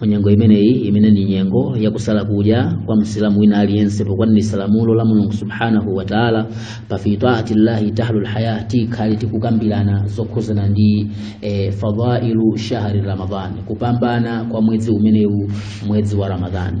mu nyengo imeneyi imene ndi nyengo yakusala kudya kwa msilamu wina aliyense pokwaniritsa lamulo la mulungu subhanahu wa taala pa fi taati llahi tahlul haya tikhale tikukambirana zokhuzana ndi eh, fadailu shahri ramadhan kupambana kwa mwezi umenewu mwezi wa ramadhani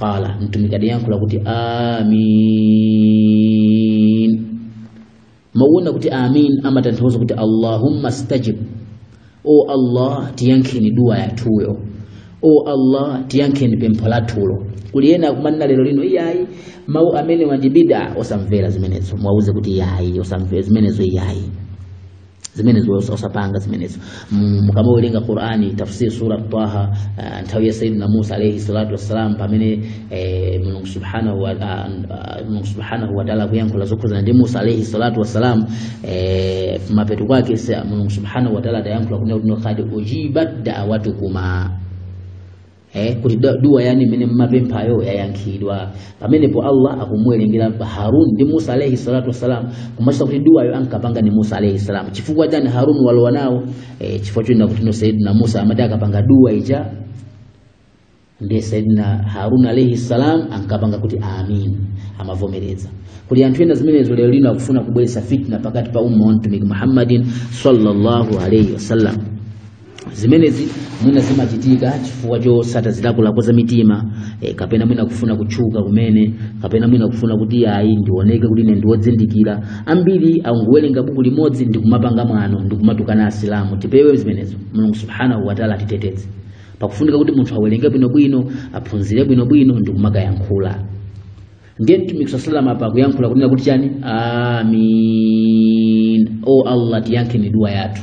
qala mtumiki adayankhula kuti amin mawu onena kuti amin amatanthauza kuti allahumma stajib o allah tiyankheni duwa yathuyo o allah tiyankheni pempho lathulo kuli ena akumanena lero lino iyayi mawu amene wa ndi bid'a osamvera zimenezo mwauze kuti iyayi osamvera zimenezo iyayi zimenezo osapanga zimenezo mukamawerenga qur'ani tafsir sura taha uh, nthawi ya sayyidina musa alayhi salatu wassalam pamene eh, mulungu subhanahu wa ah, ah, mulungu subhanahu wa ta'ala kuyankhula zokhuzana ndi musa alayhi salatu wassalam eh, mapeto kwake sa- mulungu subhanahu wa ta'ala adayankhula kunena kuti no qad ujibat da'watukuma eh, kuti da- duwa yanu imene mmapemphayo yayankhidwa pamenepo allah akumuwerengera harun ndi musa alaihi salatu wassalam kumachita kuti duwayo ankapanga ni musa alaihi salam chifukwa chani harun walowa nawo eh, chifukwa chonena kuti no sayidina musa amati akapanga duwa ija ndiye sayidina harun alaihi salam ankapanga kuti amin amavomereza kuli anthu ena zimenezo lero lino akufuna kubweretsa fitna pakati pa umma wa mtumiki muhammadin sallallahu alaihi wasallam zimenezi mwina zimachitika chifukwa chotsata zilakolako za mitima e, kapena mwina kufuna kutchuka kumene kapena mwina kufuna kuti ayi ndioneke kuti ine ndi wozindikira ambiri akungowerenga buku limodzi ndi kumapanga mwano ndi kumatukana asilamu tipewe zimenezo mulungu subhanahu wataala atiteteze pakufunika kuti munthu awerenge bwinobwino aphunzire bwinobwino ndi kumakayankhula ndiye mtumiki saa salam apa akuyankhula kunena kuti chani amin o allah tiyankheni dua yathu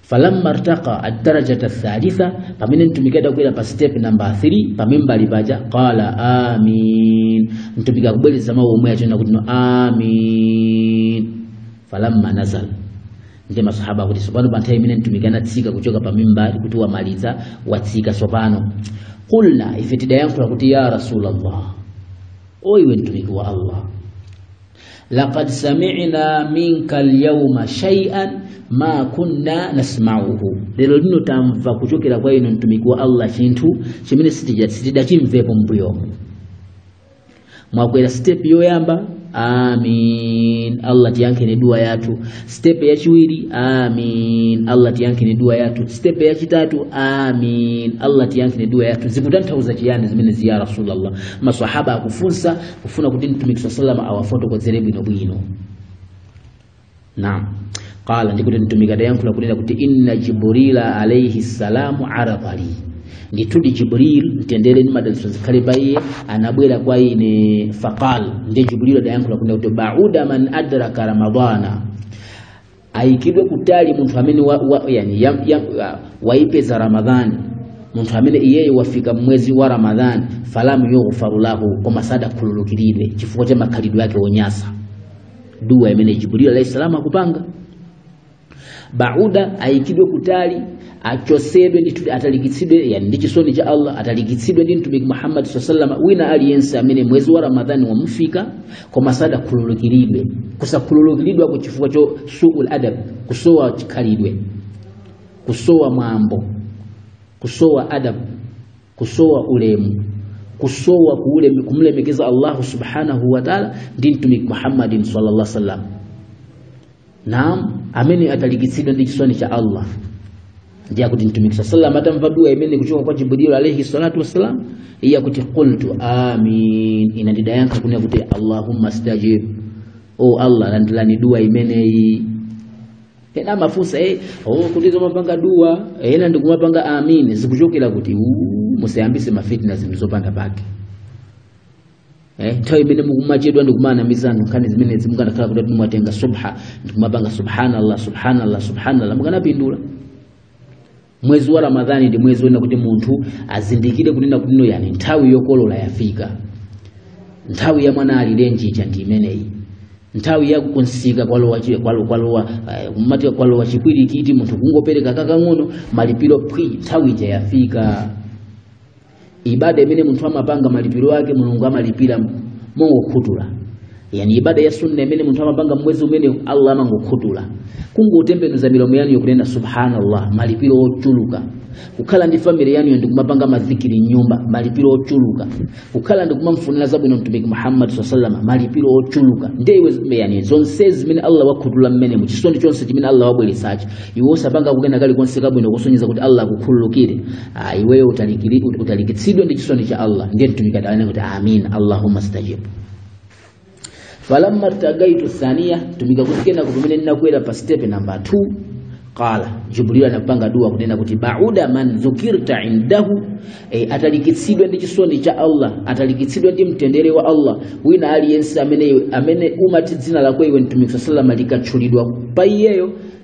falamma artaqa ad-darajata ath-thalitha pamene mtumiki adakwera pa step number 3 pa mimbali paja qala amin mtumiki akubwereza mawu omwe aja onena kuti no amin falamma nazal ndi masahaba akuti tsopano pa nthawi imene mtumiki anatsika kuchoka pa mimbali kuti wamaliza watsika tsopano qulna ife tidayankhula kuti ya rasulullah o iwe mtumiki wa allah laqad sami'na minka alyawma shay'an ma kunna nasma'uhu lero lino tamva kuchokera kwa inu mtumiki wa allah chinthu chimene sitija- sitidachimvepo mbuyomu mwakwera step yoyamba amin allah tiyankheni dua yathu step yachiwiri amin allah tiyankheni dua yathu step yachitatu amin allah tiyankheni dua yathu zikutanthauza chiyani zimenezi ya rasulallah masahaba akufunsa kufuna kuti mtumiki saa salam awafotokozere bwinobwino naam qala ndikuti mtumiki adayankhula kunena kuti inna jibrila alaihi salamu aradhali ndithudi jibril mtendere ndi madalitso zikhale pa iye anabwera kwa ine faqal ndiye jibril adayankhula kunena kuti bauda man adraka ramadana ayikidwe kutali munthu amene wa, wa, yani, ya, ya, wa- waipeza ramadhani munthu amene iyeyo wafika mwezi wa ramadhani falamu yughfaru lahu koma sadakhululukiridwe chifukwa cha makhalidwe ake onyasa dua imene jibril alayhi salam akupanga bauda aikidwe kutali achosedwe ndithu atalikitsidwe yani ndi chisoni cha allah atalikitsidwe ndi mtumiki muhammadi saa salama wina aliyense amene mwezi wa ramadhani wamufika koma sadakhululukiridwe kusakhululukiridwako chifukwa cho suul adab kusowa chikhalidwe kusowa mwambo kusowa adab kusowa ulemu kusowa kuuleme, kumlemekeza allahu subhanahu wataala ndi mtumiki muhammadin sallallahu alaihi wasallam naam amene atalikitsidwa ndi chisoni cha allah ndiye akuti mtumiki saa salam atamva dua imeneyi kuchoka kwa jibrilu alaihi salatu wassalam iye akuti qultu amin ine ndidayankha kunena kuti allahumma stajib o allah landilani dua imeneyi ena amafunsa eh, oh, kuti zomapanga dua ena ndikumapanga amin zikuchokera kuti uu, musayambise mafitna zinthu zopanda pake eh, nthawi imene mukumachedwa ndi kumanamizana nkhani zimenezi mukanakhala kuti ati mwatenga subha ndi kumapanga subhanallah subhanallah subhanallah mukanapindula mwezi wa ramadhani ndi mwezi wonena kuti munthu azindikire kunena kuti no yani nthawi yokolola yafika nthawi ya mwana alirenji cha ndi imeneyi nthawi ya kumsika kwalowa chi- kwalo- kwalowa eh, mati kwalowa chipwirikiti munthu kungopereka kakang'ono malipiro phwi nthawi ija yafika ibada imene munthu amapanga malipiro ake mulungu amalipira mongokhutula yani ibada ya sunna imene munthu amapanga mwezi umenewu allah amangokhutula kungotembenuza milomo yanu yokunena subhanallah malipiro ochuluka kukhala ndi family yanu ndi kumapanga madhikiri m'nyumba malipiro ochuluka kukhala ndi kumamfunira zabwino mtumiki muhammad saa salama malipiro ochuluka ndiye iwe yani zonse zimene allah wakhutula mmenemu chisoni chonse chimene allah wabweretsachi iwe osapanga kukena kalikonse kabwino kusonyeza kuti allah akukhululukire Ah, iweyo utalikiri- ut- utalikitsidwa ndi chisoni cha allah ndiye mtumiki adanena kuti amin allahumma stajib falamma taqaitu thania mtumiki akuti kenako pamene ndinakwera pa stepe namba 2 qala jibril anapanga dua kunena kuti bauda man dhukirta indahu e, atalikitsidwa ndi chisoni cha allah atalikitsidwa ndi mtendere wa allah wina aliyense amene, amene umati dzina lako iwe mtumiki saa salama likatchulidwa pa iyeyo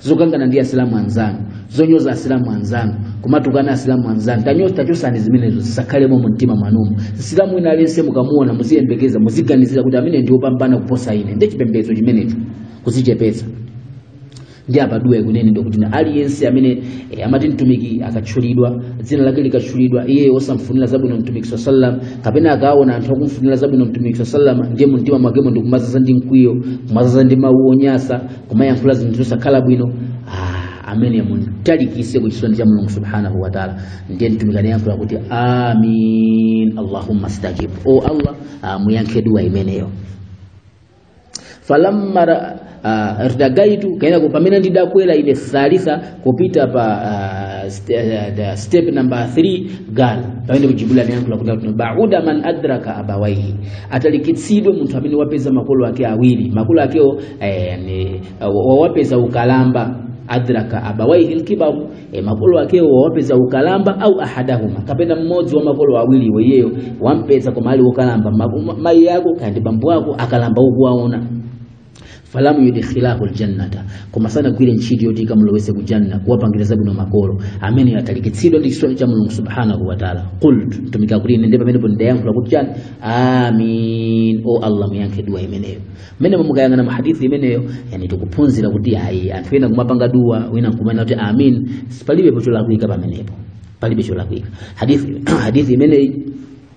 zokangana ndi asilamu anzanu zonyoza asilamu anzanu kumatukana asilamu anzanu taya tachosani zimenezo zisakhalemo mu mtima mwanumo msilamu wina aliyense mukamuona muziyembekeza muziganizira kuti ameneyu ndi opambana kuposa ine ndi chipembedzo chimenecho kuzichepetsa ndi apa duwa ikunenedwa kuti na aliyense amene eh, amati mtumiki akatchulidwa dzina lake likatchulidwa iye osamfunira zabwino mtumiki saa sallam kapena akaona anthu akumfunira zabwino mtumiki saa sallam ndiye mumtima mwakemo ndikumazaza ndi mkwiyo kumazaza ndi mawu onyasa kumayankhula zinthu zosakhala bwino ah, amene mumtalikise ku chisoni cha mulungu subhanahu wa taala ndiye mtumiki anayankhula kuti amin allahumma stajib o allah ah, muyankhe dua imeneyo falamma ra- ah, irtagaitu kaya ndi kuti pamene ndidakwera ine thalitha kupita pa uh, st uh, step number 3 qala pamene jibril anayankhula kuti bauda man adraka abawaihi atalikitsidwe munthu amene wapeza makolo ake awiri makolo akewo eh, ni, uh, wawapeza ukalamba adraka abawaihi lkibaru e, makolo akewo wawapeza ukalamba au ahadahuma kapena mmodzi wa makolo awiri wa iyeyo wampeza koma ali okalamba mayi yako kaya ndi bambo wako akalamba ukuwaona falamu yudkhilahu aljannata koma sanagwire ntchito yoti ikamulowetse ku janna kuwapangira zabwino makolo ameneyo atalikitsidwe ndi chisomo cha mulungu subhanahu wataala qult mtumiki akuti ine ndi pamenepo ndidayankhula kuti chani amin o allah muyankhe duwa imeneyo mmene mukayang'ana mu hadithi imeneyo yani tikuphunzira kuti ayi anthu ena kumapanga duwa wina nkumanena kuti amin palibe cholakwika pamenepo palibe cholakwika hadithi hadithi imeneyi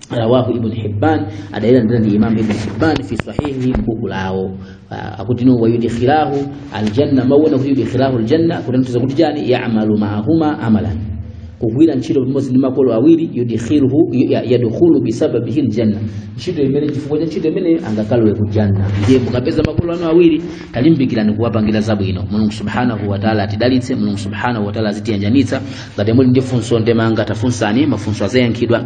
rawahu ibnu hibban adayilandira ndani imam ibn hibban fi sahihi mbuku lawo Ah, akuti no wayudkhilahu aljanna mawu onena kuti yudkhilahu aljanna kutanthauza kuti chani ya'malu ma'ahuma amalan kugwira ntchito pamodzi ndi makolo awiri yudkhiluhu ya- yadkhulu bisababihi aljanna ntchito imene chifukwa cha ntchito imene angakalowe ku janna ndiye mukapeza makolo anu awiri talimbikirani kuwapangira zabwino mulungu subhanahu wa ta'ala atidalitse mulungu subhanahu wa ta'ala azitiyanjanitsa ngati muli ndi funso ndemanga tafunsani mafunso azayankhidwa